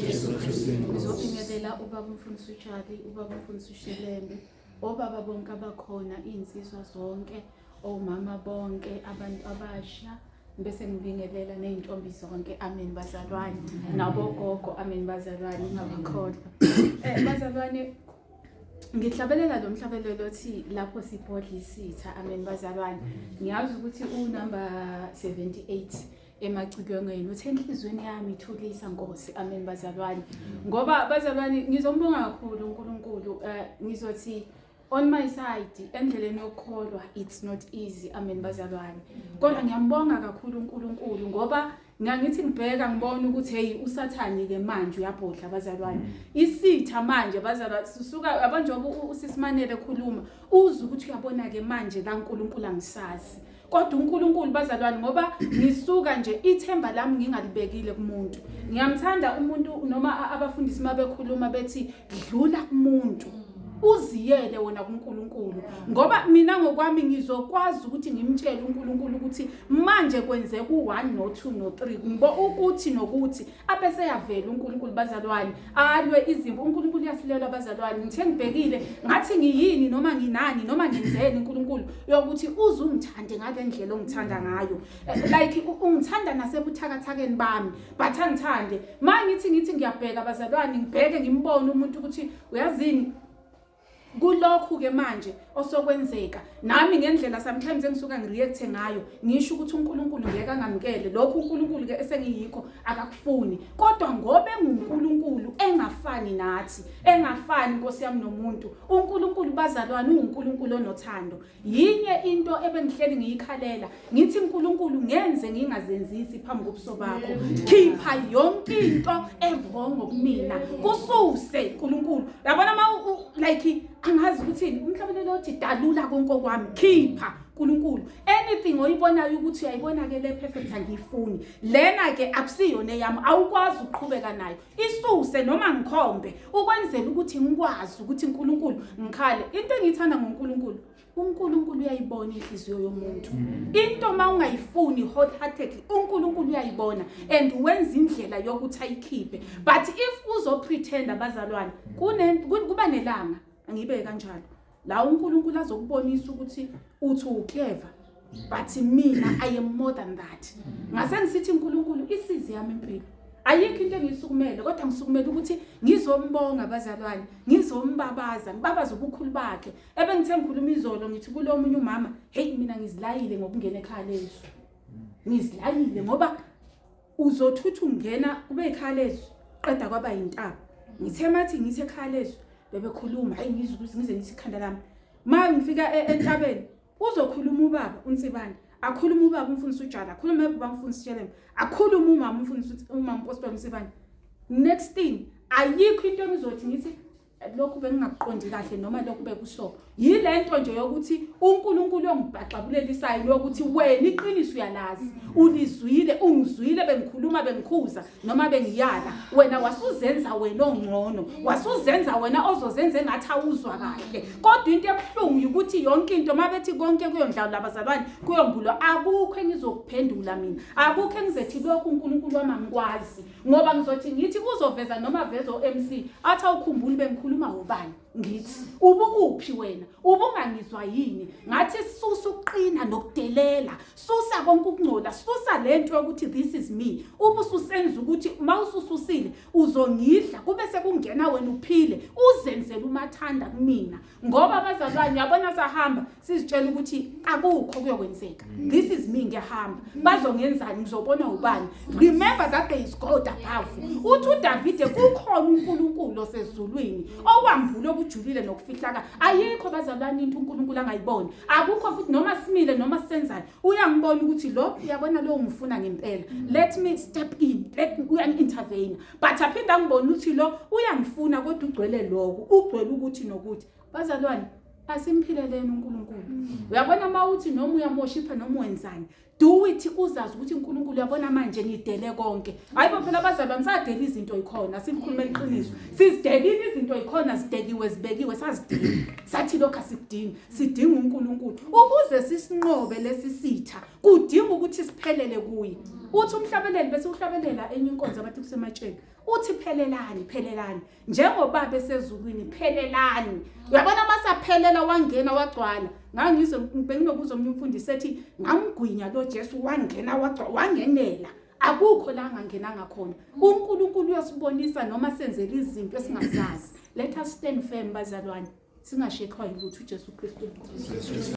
Jesu Kristu inkosi. Ngizobingelela ubaba umfundisi uJali, ubaba umfundisi uShelembe, obaba bonke abakhona, izinsizwa zonke, omama bonke, abantu abasha bese ngibingelela nezintombi zonke amen bazalwane nabogogo amen bazalwane ngabakhohlwa eh bazalwane ngihlabelela lo mhlabelelo othi lapho sibhodla isitha amen bazalwane ngiyazi ukuthi unumber 78 emacilongweni uthe enhliziyweni yami ithulisa nkosi amen bazalwane ngoba bazalwane ngizombonga kakhulu unkulunkulu um ngizothi on my side endleleni yokukholwa it's not easy amen bazalwane kodwa ngiyambonga kakhulu unkulunkulu ngoba ngangithi ngibheka ngibona ukuthi hey usathani ke manje uyabhodla bazalwane mm. isitha manje bazalwa sisuka yabona njengoba usisimane bekhuluma uze ukuthi uyabona ke manje kaNkuluNkulu angisazi mm. kodwa uNkulunkulu bazalwane ngoba ngisuka nje ithemba lami ngingalibekile kumuntu ngiyamthanda umuntu noma abafundisi uma bekhuluma bethi dlula kumuntu uziyele wona kuNkulunkulu ngoba mina ngokwami ngizokwazi ukuthi ngimtshele uNkulunkulu ukuthi manje kwenzeka u1 no2 no3 ngibo ukuthi nokuthi abese yavela uNkulunkulu bazalwane alwe izimpi uNkulunkulu uyasilelwa abazalwane ngithe ngibhekile ngathi ngiyini noma nginani noma ngenzeni uNkulunkulu yokuthi uze ungithande ngale ndlela ongithanda ngayo eh, like ungithanda nasebuthakathakeni bami but angithande manje ngithi ngithi ngiyabheka abazalwane ngibheke ngimbone umuntu ukuthi uyazini kulokhu-ke manje osokwenzeka nami ngendlela sometimes engisuka ngireacthe ngayo ngisho ukuthi unkulunkulu ngeke angamukele lokhu unkulunkulu-ke esengiyikho akakufuni kodwa ngoba engunkulunkulu engafani nathi engafani nkosi yami nomuntu unkulunkulu bazalwane ungunkulunkulu onothando yinye into ebengihleli ngiyikhalela ngithi nkulunkulu ngenze ngingazenzisi phambi kobuso bakho khipha yonke into evongo kumina kususe nkulunkulu yabona ma like angazi ukuthini umhlabelelo othi dalula konke okwami khipha uNkulunkulu anything oyibonayo ukuthi uyayibona ke le perfect angiyifuni lena ke akusiyona eyami awukwazi ukuqhubeka nayo isuse noma ngikhombe ukwenzela ukuthi ngikwazi ukuthi uNkulunkulu ngikhale into engiyithanda ngoNkulunkulu uNkulunkulu uyayibona inhliziyo yomuntu mm. into uma ungayifuni wholeheartedly uNkulunkulu uyayibona and wenza indlela yokuthi ayikhiphe but if uzopretend abazalwane mm. kuba nelanga ngibe kanjalo la uNkulunkulu azokubonisa ukuthi uthi uclever but mina i am more than that ngase ngisithi uNkulunkulu isizi yami impilo ayikho into engisukumele kodwa ngisukumele ukuthi ngizombonga abazalwane ngizombabaza ngibabaza ubukhulu bakhe ebengithe ngikhuluma izolo ngithi kulomunye umama hey mina ngizilayile ngokungena ekhaya lezo ngizilayile ngoba uzothutha ungena kube ikhaya lezwi qeda kwaba yintaba ngithe mathi ngithe ekhaya lezwi bebekhuluma hayi ngizwe ukuthi ngize ngithi ikhanda lami ma ngifika e-, entabeni uzokhuluma ubaba unsibane akhuluma ubaba umfundisi ujala akhuluma ebaba umfundisi shelema akhuluma umama umfundisi umama umpostoli unsibane next thing ayikho into engizothi ngithi lokhu bengingakuqondi kahle noma lokhu bekuso yile nto nje yokuthi uNkulunkulu ongibhaxabulelisayo lokuthi wena iqiniso uyalazi ulizwile ungizwile bengikhuluma bengikhuza noma bengiyala wena wasuzenza wena ongcono wasuzenza wena ozozenza engathi awuzwa kahle kodwa into ebuhlungu ukuthi yonke into mabethi konke kuyondlawo labazalwane kuyombulwa akukho engizokuphendula mina akukho engizethi lokhu uNkulunkulu wami angikwazi ngoba ngizothi ngithi uzoveza noma veza o-mc athi awukhumbuli bengikhuluma ngobani ngithi ubukuphi wena ubungangizwa yini ngathi susa ukuqina nokudelela susa konke ukungcola susa le nto yokuthi this is me uma ususenza ukuthi uma usususile uzongidla kube sekungena wena uphile uzenzela umathanda kumina ngoba abazalwane yabona sahamba sizitshela ukuthi akukho kuyokwenzeka mm. this is me ngiyahamba bazongenzani ngizobona ubani remember that there is god above uthi udavide kukhona unkulunkulu osezulwini owambule okujulile nokufihlaka ayikho bazalwane into unkulunkulu angayiboni akukho futhi noma simile noma senzani uyangibona ukuthi lo uyabona lo ngifuna ngempela mm. let me step in let uyangi-intervene but aphinde angibone ukuthi lo uyangifuna kodwa ugcwele lokho ugcwele ukuthi nokuthi bazalwane asimphileleni uNkulunkulu mm. uyabona uma uthi noma uyamoshipha noma wenzani do it uzazi ukuthi uNkulunkulu uyabona manje ngidele konke hayibo phela abazalwane sadela izinto ikhona sikhuluma iqiniso sizidelile izinto ikhona zidekiwe zibekiwe sazidinga sathi lokho asikudingi sidinga uNkulunkulu ukuze sisinqobe lesi sitha kudinga ukuthi siphelele kuye uthi umhlabeleli bese uhlabelela enye inkonzo abathi kusematsheni uthi phelelani phelelani njengobaba esezulwini phelelani uyabona masaphelela wangena wagcwala ngangizwe benginokuza omunye umfundisi ethi ngamgwinya lo Jesu wangena wagcwala wangenela akukho la ngangena ngakhona uNkulunkulu uyosibonisa noma senzela izinto esingazazi let us stand firm bazalwane singashekhwa yilutho uJesu Kristu